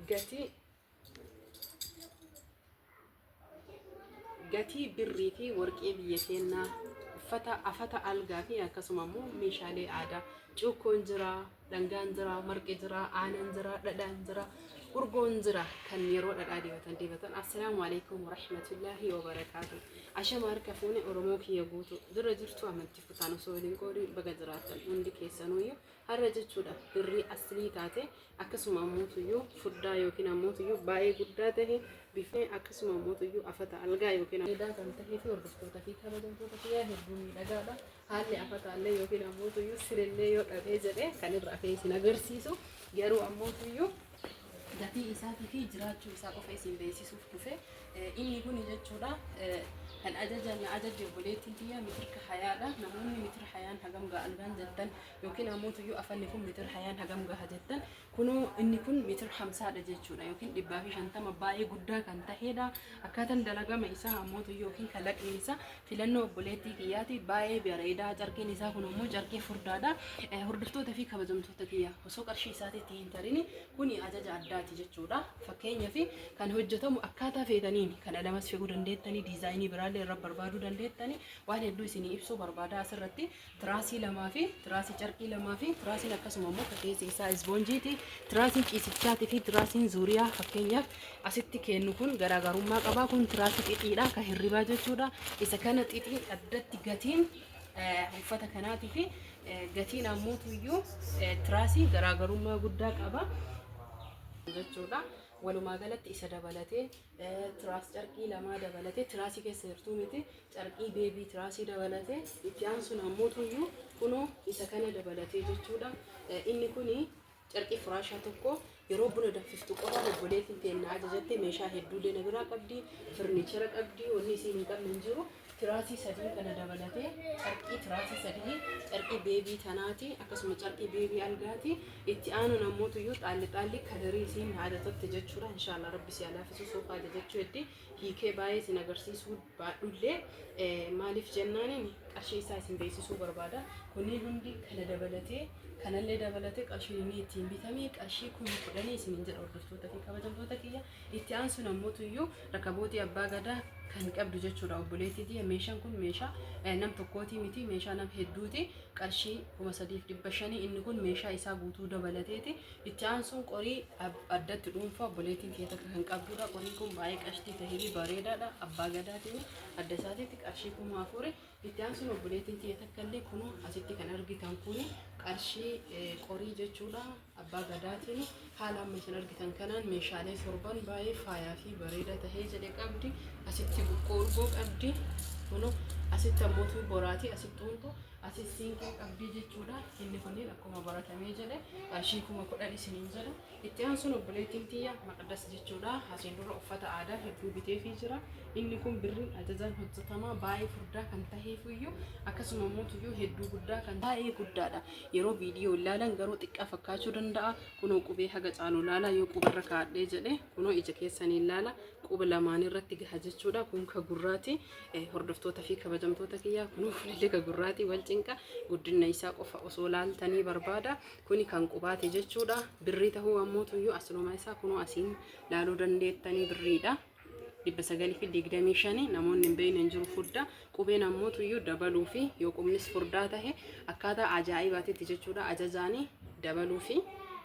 gatii gatii birrii fi warqee biyya keenyaa uffata afata algaa fi akkasuma immoo meeshaalee aadaa cuukkoon jira dhangaan jira marqi jira aanan jira dhadhaan jira urgoon jira kan yeroo dhadhaa dibatan dibatan assalaamu alaikum warahmatullaahi wabarakaatu ashama harka fuune oromoo kiyya guutu dura jirtu amantii kutaan osoo waliin qoodin baga jiraatan hundi keessanuuyyu Har'a jechuudha birrii aslii taate akkasuma ammuutuyyuu furdaa yookiin ammuutuyyuu baay'ee guddaa tahe bifee akkasuma ammuutuyyuu afata algaa yookiin edaa kan tahee fi hordoftoota fi kabajamtoota kiyyaa hedduu miidhagaadha. Haalli afataallee yookiin ammuutuyyuu sirillee yoo dhabee jedhee kan irra afee isin agarsiisu garuu ammuutuyyuu gatii isaatii fi jiraachuu isaa qofa isin beeksisuuf dhufe. Inni kun jechuudha kan ajaja na ajaje obboleettiin tiyya mitirka hayaadha. Namoonni mitira hayaan hagam ga'a algaan jettan yookiin ammoo tuyyuu afanni kun mitira hayaan hagam gaha jettan kunoo inni kun mitira hamsaadha jechuudha yookiin dhibbaa fi shantama baay'ee guddaa kan taheedha. Akkaataan dalagama isaa ammoo tuyyuu yookiin kalaqni isaa filannoo obboleettii kiyyaati baay'ee bareedaa carqiin isaa kun ammoo carqii furdaadha. Hordoftoota fi kabajamtoota kiyya. Osoo qarshii isaati itti hin tarini kuni ajaja addaati jechuudha. Fakkeenyaaf kan hojjetamu akkaataa feetaniin kan alamas fe'uu dandeettanii diizaayinii biraallee irra barbaaduu dandeettanii waan hedduu isinii ibsuu barbaada asirratti tiraasii lamaa fi tiraasii carqii lamaa fi tiraasiin akkasuma immoo fakkeessi isaa isboonjiiti tiraasiin ciisichaati fi tiraasiin zuuriyaa fakkeenyaaf asitti kennu kun garaagarummaa qabaa kun tiraasii xixiidha kan hirribaa jechuudha isa kana xixii addatti gatiin eh, uffata kanaatii fi Gatiin ammoo tuyyuu tiraasii garaagarummaa guddaa qaba jechuudha. Walumaa galatti isa dabalatee tiraas carqii lamaa dabalatee tiraasii keessa jirtuu miti carqii beebii tiraasii dabalatee itti aansuun ammoo tuyyuu kunoo isa kana dabalatee jechuudha. Inni kuni Carqii firaashaa tokko yeroo buna danfiftu qofa obboleettiin teenna ajajatte meeshaa hedduullee na biraa qabdi, firniichera qabdi, wanni isiin hin qabne hin jiru. Tiraasii sadii kana dabalatee carqii tiraasii sadii carqii beebii tanaati akkasuma carqii beebii algaati itti aanuun ammoo tuyyuu xaalli xaalli kadarii isiin na ajajatte jechuudha inshaallah rabbi si alaafisu soofaa ajajachuu heddii hiikee baay'ee isin agarsiisuu baadhullee maaliif jennaaniin qarshii isaa isin beeksisuu barbaada. Kunniin hundi kana dabalatee kanallee dabalatee qarshiin inni ittiin bitamee qarshii kuma kudhanii isiniin jedha hordoftoota fi kabajamtoota kiyya. Itti aansuun ammoo tuyyuu rakabootii abbaa gadaa kan qabdu jechuudha obboleettii tiyya. Meeshaan kun meeshaa eh, nam tokkootii miti meeshaa nam hedduuti qarshii kuma sadiif dhibba shanii inni kun meeshaa isaa guutuu dabalateeti Itti aansuun qorii addatti dhuunfaa obboleettiin kee takka kan qabdudha. Qoriin kun baay'ee qashtii tahee bareedaadha. Abbaa gadaatiin adda isaatiitti qarshii kuma afuri. Itti aansuun obboleettiin tiyya takka illee kunuu asitti kan argitan kun qarshii qorii jechuudha. Abbaa gadaatiin haala amma isin argitan kanaan meeshaalee torban baay'ee faayaa fi bareeda tahee jedhe qabdi. Asitti buqqoo urgoo qabdi. Kunuu asitti ammoo tuu boraatii asitti huntoo Atis siinqee qabdii jechuudha. Inni kunniin akkuma baratamee jedhe qarshii kuma kudhan isiniin jedha. Itti aansuun obboleettiin tiyya maqdas jechuudha. Asiin dura uffata aadaa hedduu biteefii jira. Inni kun birriin ajajaan hojjetamaa baay'ee furdaa kan taheefuyyuu akkasuma immoo tuyyuu hedduu guddaa kan baay'ee guddaadha. Yeroo viidiyoo ilaalan garuu xiqqaa fakkaachuu danda'a. Kunoo qubee haga caalu ilaala yoo qubarra kaadhee jedhe kunoo ija keessanii ilaala quba lamaan irratti gaha jechuudha. Kun ka gurraati. hordoftoota fi kabajamtoota kiyyaa kunuu fuullee ka gurraati wal cinqa guddina isaa qofa osoo laaltanii barbaada kuni kan qubaati jechuudha birrii tahuu ammoo tuyyuu asluma isaa kunuu asiin laaluu dandeettanii birriidha. dhibba sagalii fi digdamii shanii namoonni hin beekne hin jiru furdaa qubeen ammoo tuyyuu dabaluu fi yoo qubnis furdaa tahe akkaataa ajaa'ibaatitti jechuudha ajajaanii dabaluu fi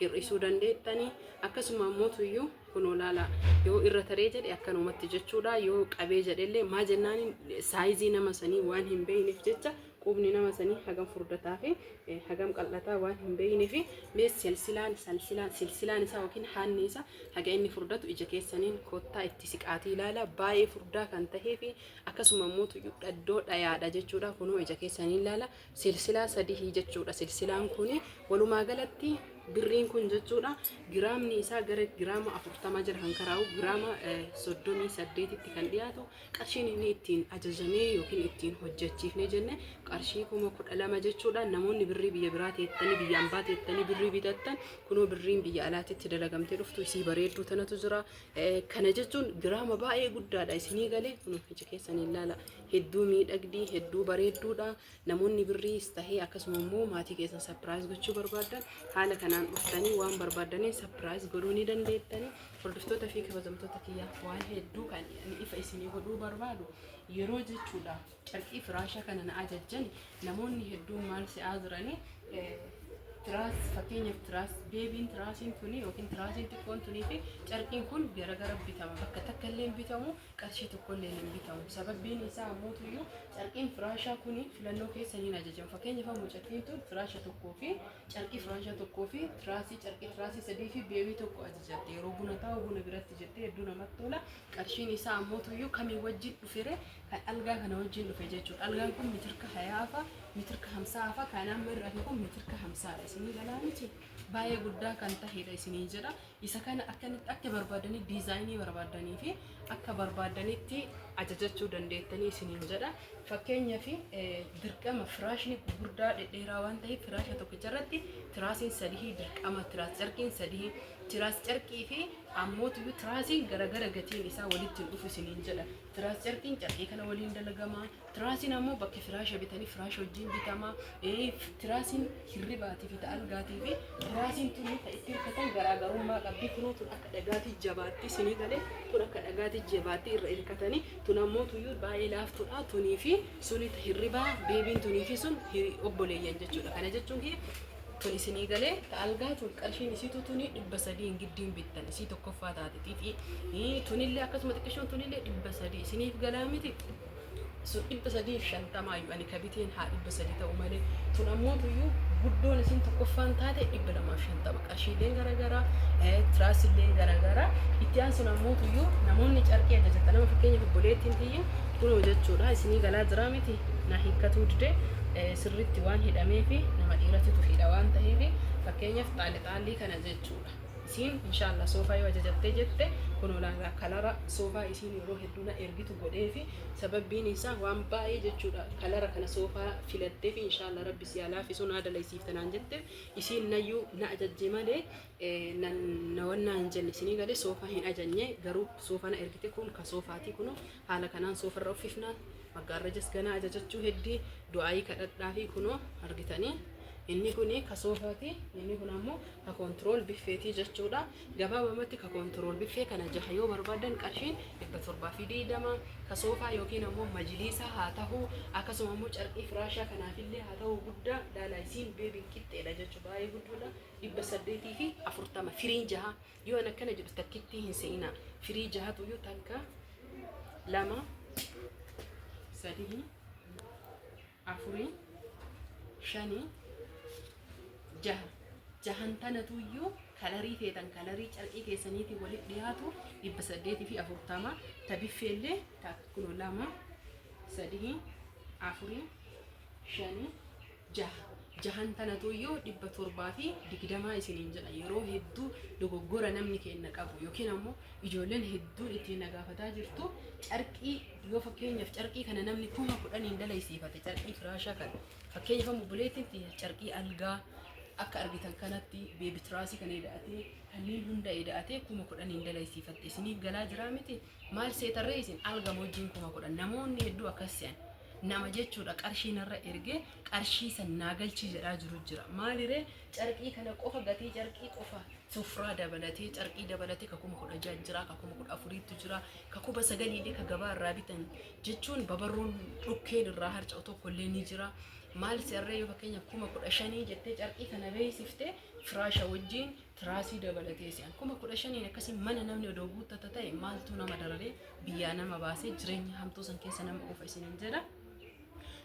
hir'isuu dandeettanii akkasuma ammoo tuyyuu Kunoo laalaa yoo irra taree jedhe akkanumatti jechuudha yoo qabee jedhellee maa jennaan saayizii nama sanii waan hin beeyneef jecha qubni nama sanii hagam furdataa fi eh, hagam qal'ataa waan hin beeyneef mee silsilaan salsilaan silsilaan isaa yookiin haanni isaa haga inni furdatu ija keessaniin kottaa itti siqaatii ilaala baay'ee furdaa kan tahee fi akkasuma immoo tuyyuu dhaddoo dhayaadha jechuudha kunoo ija keessaniin ilaala Silsilaa sadihii jechuudha. Silsilaan kun walumaa galatti birriin kun jechuudha giraamni isaa gara giraama afurtamaa jala kan karaa'u giraama soddomii saddeetitti kan dhiyaatu qarshiin inni ittiin ajajamee yookiin ittiin hojjechiifnee jenne qarshii kuma kudha lama jechuudha. Namoonni birrii biyya biraa teettanii biyya ambaa teettanii birrii bitattan kunoo birriin biyya alaatitti dalagamtee dhuftu isii bareedduu tanatu jira. Kana jechuun giraama baay'ee guddaadha isinii galee kunoo ija keessaniin laala. hedduu miidhagdii hedduu bareedduudha namoonni birriis tahee akkasuma immoo maatii keessan sapiraayiz gochuu barbaaddan haala kanaan dhuftanii waan barbaadaniin sapiraayiz godhuu ni dandeettanii hordoftoota fi kabajamtoota kiyyaaf waan hedduu kan ani ifa isinii godhuu barbaadu yeroo jechuudha carqii firaasha kana na ajajjan namoonni hedduun maal si'aa jiranii eh, tiraas fakkeenyaaf tiraas beebiin tiraasiin tuni yookiin tiraasiin xiqqoon tunii fi carqiin kun garagara bitama bakka takka illee hin bitamu qarshii tokkolleen hin bitamu. Sababbiin isaa ammoo tuyyuu carqiin firaashaa kun filannoo keessa hin ajajamu. Fakkeenyaaf ammoo carqiin tun firaasha tokkoo fi carqii firaasha tokkoo fi tiraasii carqii tiraasii sadii fi beewii tokko ajajatti. Yeroo buna taa'u buna biratti jettee hedduu namatti tola. Qarshiin isaa ammoo tuyyuu kamii wajjin dhufere kan algaa kana wajjin dhufe jechuudha. Algaan kun mitirka hayaafa, mitirka hamsaafa, kan amma irraa kun mitirka hamsaadha. Isinii galaa miti baay'ee guddaa kan tahedha isinii jedha. Isa kana akkamitti akka barbaadanii diizaayinii barbaadanii fi akka barbaadanitti ajajachuu dandeettanii isiniin jedha. Fakkeenya fi dirqama firaashni gurguddaa dhedheeraa waan ta'eef firaasha tokkicha irratti tiraasiin sadihii dirqama tiraas carqiin sadihii tiraas carqii fi ammootu tiraasiin garagara gatiin isaa walitti hin dhufu isiniin jedha. Tiraas carqiin carqii kana waliin dalagama. Tiraasiin ammoo bakki firaasha bitanii firaasha wajjin bitama. Ee, Tiraasiin hirribaatii fi ta algaatii fi tiraasiin tuni ta itti hirkatan garaagarummaa qabdi. Kunoo tun akka dhagaatii jabaatti sinii galee tun akka dhagaatii jabaatti irra hirkatanii tun ammoo tuyyuu baay'ee laaftudha. Tunii fi suni ta hirribaa beebiin tunii fi sun hiri- obboleeyyan jechuudha. Kana jechuun kiyya tun isinii galee ta algaa tun qarshiin isiitu tuni dhibba sadii hin giddiin bittan isii tokkoffaa taate xixii. Ii, Tunillee akkasuma xiqqishoon tunillee dhibba sadii isiniif galaa miti. sun dhibba sadii fi shantamaa iyyuu ani ka biteen haa dhibba sadii ta'u malee tun ammoo iyyuu guddoon isin tokkoffaan taate dhibba lamaaf shantama qarshiileen garaagaraa tiraasileen garaagaraa itti aan sun ammoo iyyuu namoonni carqii ajajatan nama fakkeenya obboleettiin tiyya kunoo jechuudha isinii galaa jiraa miti na hiikkatuu dide sirriitti waan hidhamee fi nama dhiiratitu hidha waan ta'eef fakkeenyaaf xaali xaalii kana jechuudha. isiin inshallah soofaa yoo ajajattee jette kunoo laalaa kalara soofaa isiin yeroo hedduu na ergitu godheefi sababbiin isaa waan baay'ee jechuudha kalara kana soofaa filatteefi inshallah rabbi si haa laafisu naa dalaysiifta naan jette isiin nayyuu na ajajje malee eh, na na wannaa hin jenne isinii galee soofaa hin ajajne garuu soofaa na ergite kun ka soofaatii kunoo Haala kanaan soofarra uffifna, maggaarrajas ganaa ajajachuu heddii du'aayii kadhadhaafi kunoo argitanii inni kun ka soofaati inni kun ammoo ka koontirool biffeetii jechuudha. Gabaabamatti ka koontirool biffee kana jaha yoo barbaadan qarshiin dhibba torbaa fi digdama ka soofaa yookiin ammoo majiliisaa haa tahu akkasuma ammoo carqii firaashaa kanaafillee haa tahu guddaa laalaa isiin beebiin qixxeedha jechuu baay'ee guddoodha dhibba saddeetii fi afurtama firiin jaha. Yoo an akkana jedhu takkittii hin se'inaa. Firii jahatu iyyuu takka, lama, sadii, afurii, shanii, jaha. Jahan tanatu iyyuu kalarii feetan kalarii carqii keessaniitiin walitti dhiyaatu dhibba saddeetii fi afurtama ta biffeellee takka kunoo lama, sadii, afurii, shanii, jaha jahan tanatu iyyuu dhibba torbaa fi digdamaa isiniin jedha yeroo hedduu dogoggora namni keenna qabu yookiin ammoo ijoolleen hedduun ittiin nagaafataa jirtu carqii yoo fakkeenyaaf carqii kana namni kuma kudhaniin dalaysiifate carqii firaashaa kana fakkeenyaaf ammoo buleetti carqii algaa akka argitan kanatti beebitiraasii kan eda'atee kanneen hunda eda'atee kuma kudhaniin dalaysiifatte isiniif galaa jiraa miti Maal seetanree isin alga mojjiin kuma kudhan namoonni hedduu akkas se'an nama jechuudha qarshii narra ergee qarshii san naa galchii jedhaa jiru jira maaliree carqii kana qofa gatii carqii qofa sufraa dabalatee carqii dabalatee ka kuma kudha ja'a jira ka kuma kudha afuriitu jira ka kuma sagaliillee ka gabaa irraa bitan jechuun babarruun dhukkeen irraa harca'u tokko illee ni jira maal se'arree yoo fakkeenyaaf kuma kudha shanii jettee carqii kana beeksifte firaasha wajjiin tiraasii dabalatee si'an kuma kudha shaniin akkasii mana namni odoo guuttata ta'e maaltu nama dararee biyyaa nama baasee jireenya hamtuu san keessa nama oofa isiniin jedha.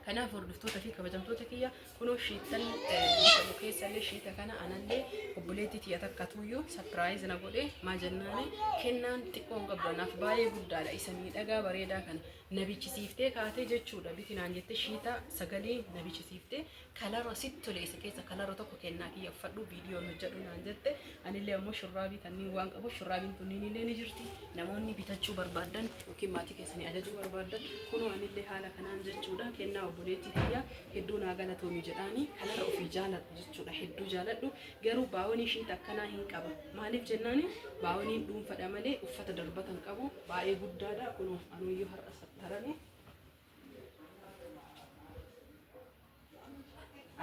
Kanaaf hordoftoota fi kabajamtoota kiyya kunoo shiittan bifamu keessa illee shiita kana anallee obboleettii tiyya takka tuyyuu sapiraayiz na godhe maa jennaani kennaan xiqqoon qabdu anaaf baay'ee guddaadha isa miidhagaa bareedaa kana na bichisiiftee kaatee jechuudha bitinaan jettee shiita sagalee na bichisiiftee kalaroo sit tole isa keessa kalaroo tokko kennaa kiyya uffadhu viidiyoo nu jedhu naan jette anillee ammoo shurraabii kanniin waan qabu shurraabiin kunniin illee ni jirti namoonni bitachuu barbaadan yookiin maatii keessanii ajajuu barbaadan kunoo anillee haala kanaan jechuudha kennaa obboleettii kiyya hedduu naa galatoomi jedhaanii kalara ofii jaaladhu jechuudha hedduu jaaladhu garuu baawonii shiita akkanaa hin qaba maaliif jennaani baawoniin dhuunfadha malee uffata darbatan qabu baay'ee guddaadha kunoo anuyyuu har'a sattarame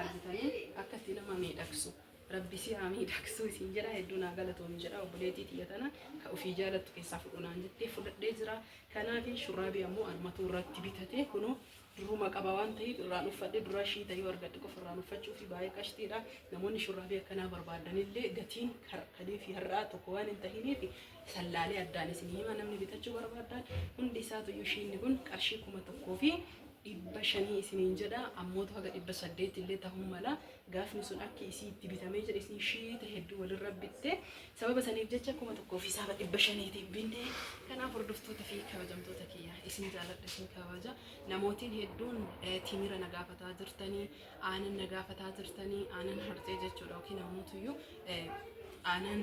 argitanii akka itti nama miidhagsu rabbi si haa miidhagsu isin jedha hedduu naa galatoomi jedha obboleetii tiyya tana ka ofii jaalattu keessaa fudhunaan jettee fudhadhee jira kanaaf shurraabii ammoo anumatu irratti bitatee kunoo duruma qaba waan ta'eef irraan uffadhe dura ishii ta'ee argadhe qofa irraan uffachuu fi baay'ee qashtiidha namoonni shurraabii akkanaa barbaadanillee gatiin kaleefi har'aa tokko waan hin tahiniif sallaalee addaan isin hima namni bitachuu barbaadan hundi isaatuyyuu shiinni kun qarshii kuma tokkoo fi dhibba shanii isiniin jedha ammootu haga dhibba saddeet illee tahuu mala gaafni sun akki isii itti bitamee jedhe isin shiite hedduu walirra bitte sababa saniif jecha kuma tokkoo fi saaba dhibba shaniitiif binte kanaaf hordoftoota fi kabajamtoota kiyya isin jaaladha isin kabaja namootiin hedduun eh, timira na gaafataa jirtanii aanan na gaafataa jirtanii aanan harcee jechuudha yookiin namootuyyuu aanan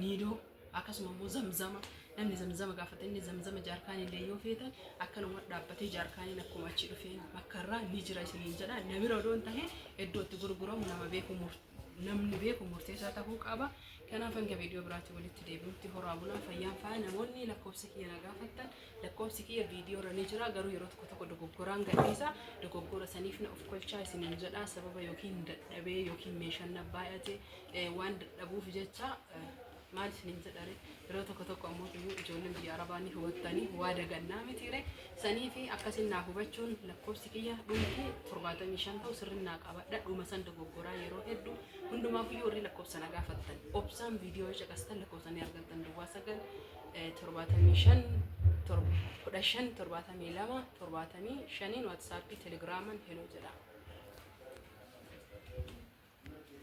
niidoo akkasuma immoo zamzama namni zamzama gaafate inni zamzama jaarkaanii illee yoo feetan akkanuma dhaabbatee jaarkaaniin akkuma achi dhufeen bakka irraa ni jira isiniin jedha na bira odoon tahe iddoo itti gurguramu nama beeku murte. namni beeku murteessaa tahuu qaba. Kanaaf hanga viidiyoo biraatti walitti deebi'utti horaa bulaa fayyaan faaya namoonni lakkoofsa kiyya na gaafattan lakkoofsi kiyya viidiyoo irra ni jira garuu yeroo tokko tokko dogoggoraan gadhiisa dogoggora saniif na of kolchaa isiniin jedha sababa yookiin dadhabee yookiin meeshaan na baay'ate eh, waan dadhabuuf jecha eh, Maal isiniin jedhare yeroo tokko tokko ammoo iyyuu ijoolleen biyya arabaa ni hubattanii waa dagannaa mitiire sanii fi akkasiin naa hubachuun lakkoofsi kiyya dhumti torbaatamii shan ta'u sirrin naa qabadha dhuma san dogoggoraa yeroo hedduu hundumaaf iyyuu warri lakkoofsa na gaafattan obsaan viidiyoo yoo caqastan lakkoofsa ni argattan duwwaa sagal torbaatamii shan kudha shan torbaatamii lama torbaatamii shaniin waatsaappii telegiraaman heloo jedha.